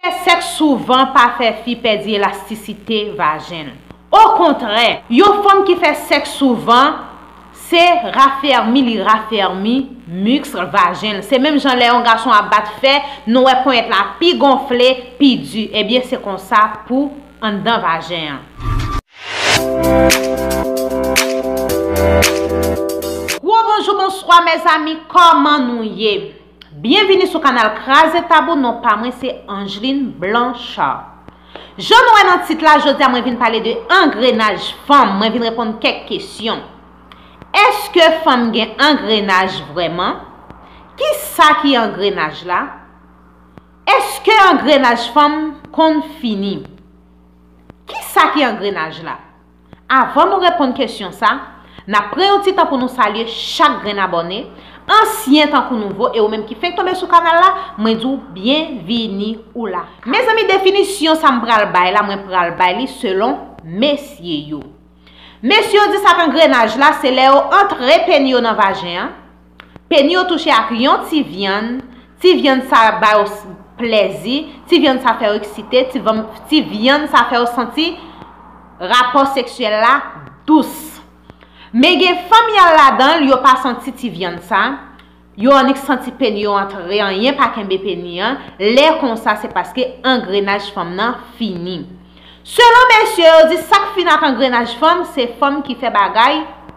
Fè sèks souvan pa fè fi pèdi elastisite vajen l. Okontrè, yon fanm ki fè sèks souvan, se rafèmi li rafèmi miskl vajen l. Se menm jan lè yon gason ap bat fè, nou wè ponyèt la pi gonfle, pi di. Ebyen se konsa pou anndan vajen an. Gwo bonjou bonswa mezanmi kòman nou ye? Byenvini sou kanal Kraze Tabou non pa mwen se Angeline Blanchard Jan nou wè nan tit la jodi a mwen vin pale de angrenaj fanm mwen vin reponn kèk kesyon Eske fanm gen angrenaj vrèman? Kisa ki angrenaj la? Eske angrenaj fanm konn fini? Kisa ki angrenaj la? Avan nou reponn kesyon sa, nap pran yon ti tan pou nou salye chak grenn abòne, ansyen tankou nouvo e ou menm ki fenk tonbe sou kanal la, mwen di w byenvini ou la. Mezanmi definisyon sa m pral bay la mwen pral bay li selon mesye yo. Mesye yo di sa k angrenaj la se lè yo antre peni yo nan vajen an, Peni yo touche ak yon ti vyann, ti vyann sa ba yo plèzi, ti vyann sa fè yo eksite, ti vyann sa fè yo santi rapò seksyèl la dous. Men gen fanm y al ladan l yo pa santi ti vyann sa, yo annik santi peni yo antre anyen pa kenbe peni an, lè konsa se paske angrenaj fanm nan fini. Selon mesye yo di sa k fini ak angrenaj fanm se fanm ki fè bagay,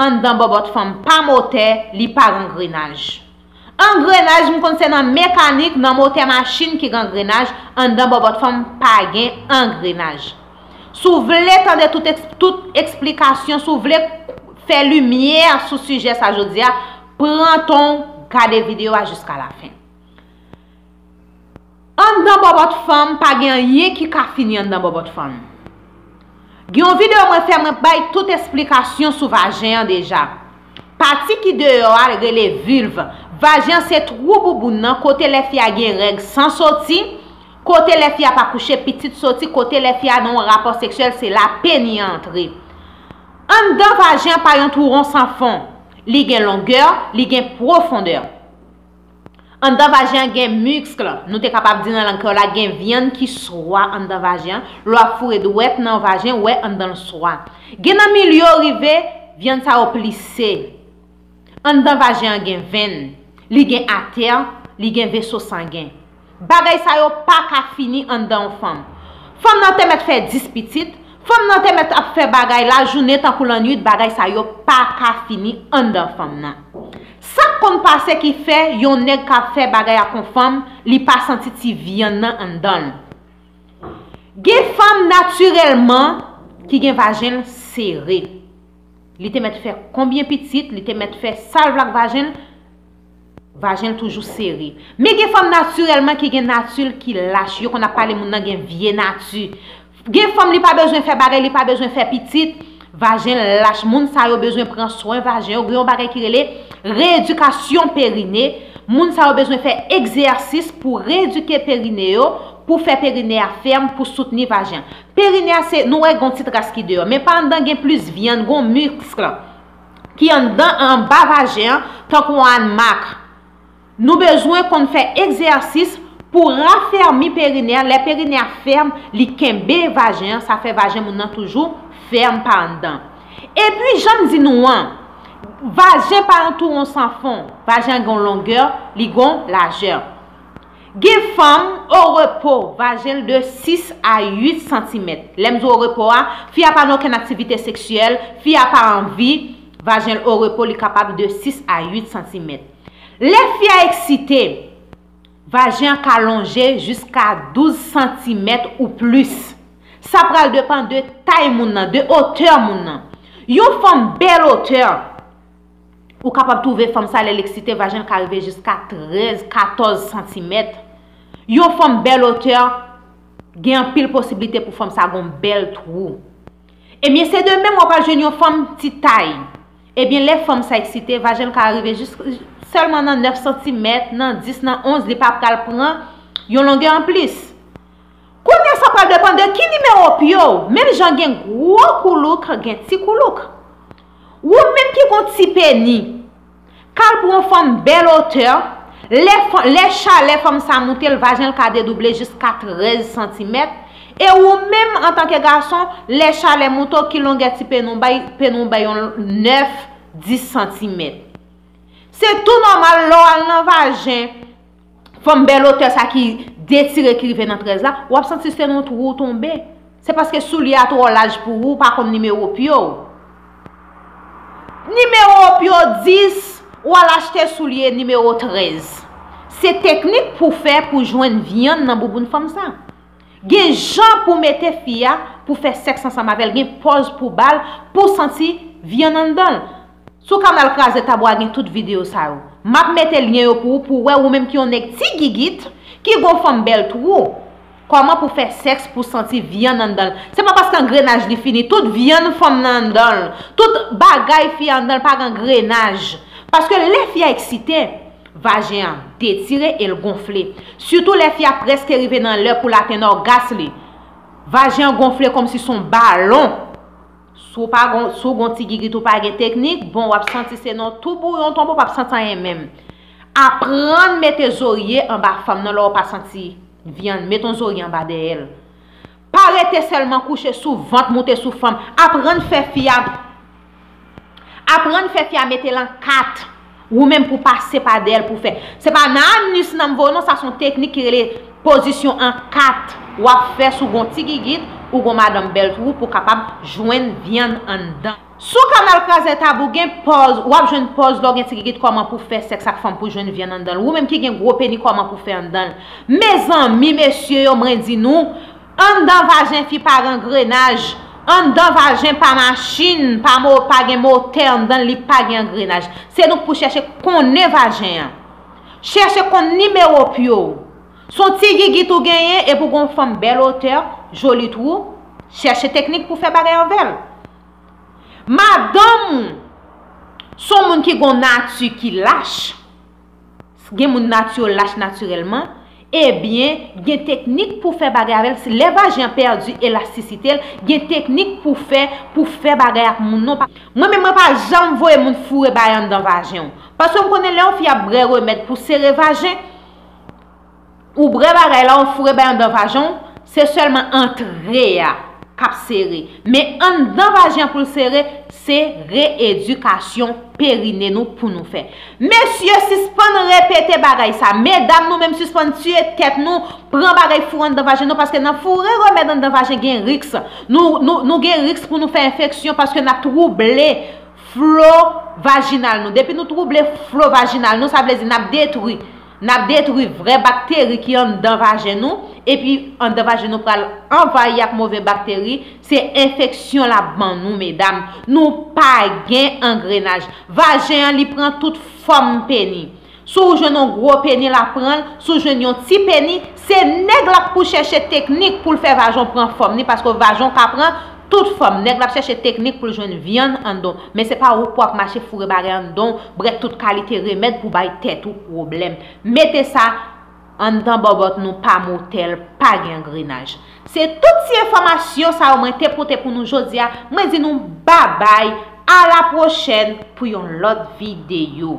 Anndan bòbòt fanm pa motè, li pa gangrenaj. Angrenaj m konn se nan mekanik, nan motè machin ki gangrenaj, anndan bòbòt fanm pa gen angrenaj. Si w vle tande tout eksplikasyon, si w vle fè limyè sou sijè sa jodi a, pran tan w gade videyo a jiska lafen. Anndan bòbòt fanm pa gen anyen ki ka fini anndan bòbòt fanm. Gen yon video mwen fè mwen bay tout esplikasyon sou vajen an deja. Pati ki deyò a rele vulve, vajen an se twou bouboun nan kote lè fi a gen règ san soti, kote lè fi a pa kouche pitit soti, kote lè fi a nan yon rapò seksyèl se la peni an antre. Anndan vajen an pa yon twou won san fon, li gen longè, li gen pwofondè. Anndan vajen an gen miskl, nou te kapab di nan lang kreyòl la gen vyann ki swa anndan vajen an, lè w ap foure dwèt nan vajen wè anndan l swa. Gen nan mil yo rive vyann sa yo plise. Anndan vajen an gen venn, li gen atè, li gen veso sangen. Bagay sa yo pa ka fini anndan yon fanm. Fanm nan te mèt fè 10 pitit, fanm nan te mèt ap fè bagay lajounen tankou lannuit bagay sa yo pa ka fini anndan fanm nan. Sa k konn pase ki fè yon nèg ka fè bagay ak yon fanm li pa santi ti vyann nan anndan l. Gen fanm natirèlman ki gen vajen l sere. Li te mèt fè konbyen pitit, li te mèt fè sa l vle ak vajen l, Vajen l toujou sere. Men gen fanm natirèlman ki gen nati l ki lach. Yo konn ap pale moun nan gen vye nati. Gen fanm li pa bezwen fè bagay, li pa bezwen fè pitit. Vajen l lach. Moun sa yo bezwen pran swen vajen yo. Gen yon bagay ki rele reyedikasyon perine. Moun sa yo bezwen fè egzèsis pou reyedike perine yo, pou fè perine a fèm, pou soutni vajen. Perine a se, nou wè gen yon ti tras ki deyò. Men pa anndan gen plis vyann, gen yon miskl. ki anndan an anba vajen an tankou yon anmak. Nou bezwen konn fè egzèsis pou rafèmi perinè a, lè perinè a fèm li kenbe vajen an sa fè vajen moun nan toujou fèm pa anndan. Epi janm di nou an, vajen pa yon tou won san fon, vajen an gen yon longè, li gen yon lajè. Gen fanm, orepo, vajen l de 6 a 8 santimèt. Lè m di orepo a, fi a pa nan okenn aktivite seksyèl, fi a pa anvi, vajen l orepo, li kapab de 6 a 8 santimèt. Lè fi a eksite, vajen an ka lonje jiska 12 santimèt ou plis. Sa pral depan de tay moun nan, de otè moun nan. Yon fanm bèl otè. Ou kapab twouve fanm sa lè l eksite vajen l ka rive jiska 13, 14 santimèt. Yon fanm bèl otè, gen anpil posiblite pou fanm sa gen yon bèl twou. Ebyen se de menm w ap al jwenn yon fanm ti tay. Ebyen lè fanm sa eksite, vajen l ka rive jis sèlman nan 9 santimèt, nan 10, nan 11 li pa pral pran yon longè anplis. Kounya sa pral depann de ki nimewo pye w. Menm jan gen gwo koulouk, gen ti koulouk. Wou menm ki gon ti peni. Kal pou yon fanm bèl otè, lè chalè fanm sa moute l vajen l ka dedouble jiska 13 santimèt, e wou menm antanke gason lè chalè moute w ki longè ti peni w bay, peni w bay yon 9, 10 santimèt. Se tou nòmal lè w al nan vajen. Fanm bèl otè sa ki detire ki rive nan 13 la, w ap santi se yon twou w tonbe. Se paske soulye a twò laj pou ou, ou pa konn nimewo pye w. Nimewo pye w 10, ou al achte soulye nimewo 13. Se teknik pou fè pou jwenn vyann nan bouboun fanm sa. Gen jan pou mete fi a pou fè sèks ansanm avè l, gen pòz pou ba l pou santi vyann anndan l. Sou kanal kraze tab wa gen tout video sa yo. Map mete lyen yo pou ou pou wè ou menm ki yon nèg ti gigit, ki gon fòm bèl twou. Kòman pou fè sèks pou santi vyann anndan l. Se pa paske angrenaj li fini. Tout vyann fanm nan anndan l. Tout bagay fi a anndan l pa gen angrenaj. Paske lè fi a eksite, vajen an detire e l gonfle. Sitou lè fi a prèske rive nan lè pou l atenn ògas li. Vajen an gonfle kòmsi son balon. Si w pa gon, si w gon ti gigit ou pa gen teknik, bon wap santi se nan tou bouyon tonbe ou pap santi anyen menm. Aprann mete zorye anba fanm nan lè w pa santi vyann, met on zorye anba dèyè l. Pa rete sèlman kouche sou vant moute sou fanm, aprann fè fi a, aprann fè fi a mete l an 4 Ou menm pou pase pa dèyèl pou fè. Se pa nan anus nanm voye non sa son teknik ki rele pozisyon an 4 wap fè sou gon ti gigit ou gon madanm bèl twou pou kapab jwenn vyann anndan. Sou kanal krazè tab ou gen pòz wap jwenn pòz lèw gen ti gigit kòman pou fè sèks ak fanm pou jwenn vyann anndanl ou menm ki gen gwo peni kòman pou fè anndanl mezanmi mesye yo mwen di nou Anndan vajen fi pa rangrenaj, anndan vajen pa machin, pa mo, pa gen motè anndan l, li pa gen angrenaj. Se nou k pou chèche konnen vajen an. Chèche konn nimewo pye w. S on ti gigit ou genyen epi w gen yon fòm bèl otè, joli twou, chèche teknik pou fè bagay avè l. Madanm ou s on moun ki gen yon nati ki lach. Gen moun nati yo lach natirèlman, ebyen gen teknik pou fè bagay avèl, lè vajen an pèdi elastisite'l, gen teknik pou fè pou fè bagay ak moun non, mwen menm mwen pa janm voye moun foure bay anndan vajen'w, paske'm konnen lè yon fi ap brè remèd pou sere vajen, Ou brè bagay la ou foure bay andan vajen w se sèlman antre a kap sere men andan vajen an poul sere se reedikasyon perine nou pou nou fè mesye sispann repete bagay sa medam nou menm sispann tiye tèt nou pran bagay foure andan vajen nou paske nan foure remèd andan vajen gen riks nou gen riks pou nou fè enfeksyon paske nap twouble flo vajinal nou depi nou twouble flo vajinal nou sa vle di nap detwi N ap detwi vrè bakteri ki anndan vajen nou, epi anndan vajen nou pral anvayi ak move bakteri, se enfeksyon l ap ban nou medam. Nou pa gen angrenaj. Vajen an li pran tout fòm peni. Si w jwenn yon gwo peni l ap pran l, si w jwenn yon ti peni, se nèg la pou chèche teknik pou l fè vajan w pran fòm li paske vajan w ka pran Tout fòm, nèg la ap chèche teknik pou l jwenn vyann anndan w, men se pa ou k pou ap mache foure bagay anndan w, brèt tout kalite remèd pou bay tèt ou pwoblèm. Mete sa anndan bòbòt nou pa motèl, pa gen angrenaj. Se tout ti enfòmasyon sa yo mwen te pote pou nou jodi a, mwen di nou babay, a la pwochèn pou yon lòt videyo.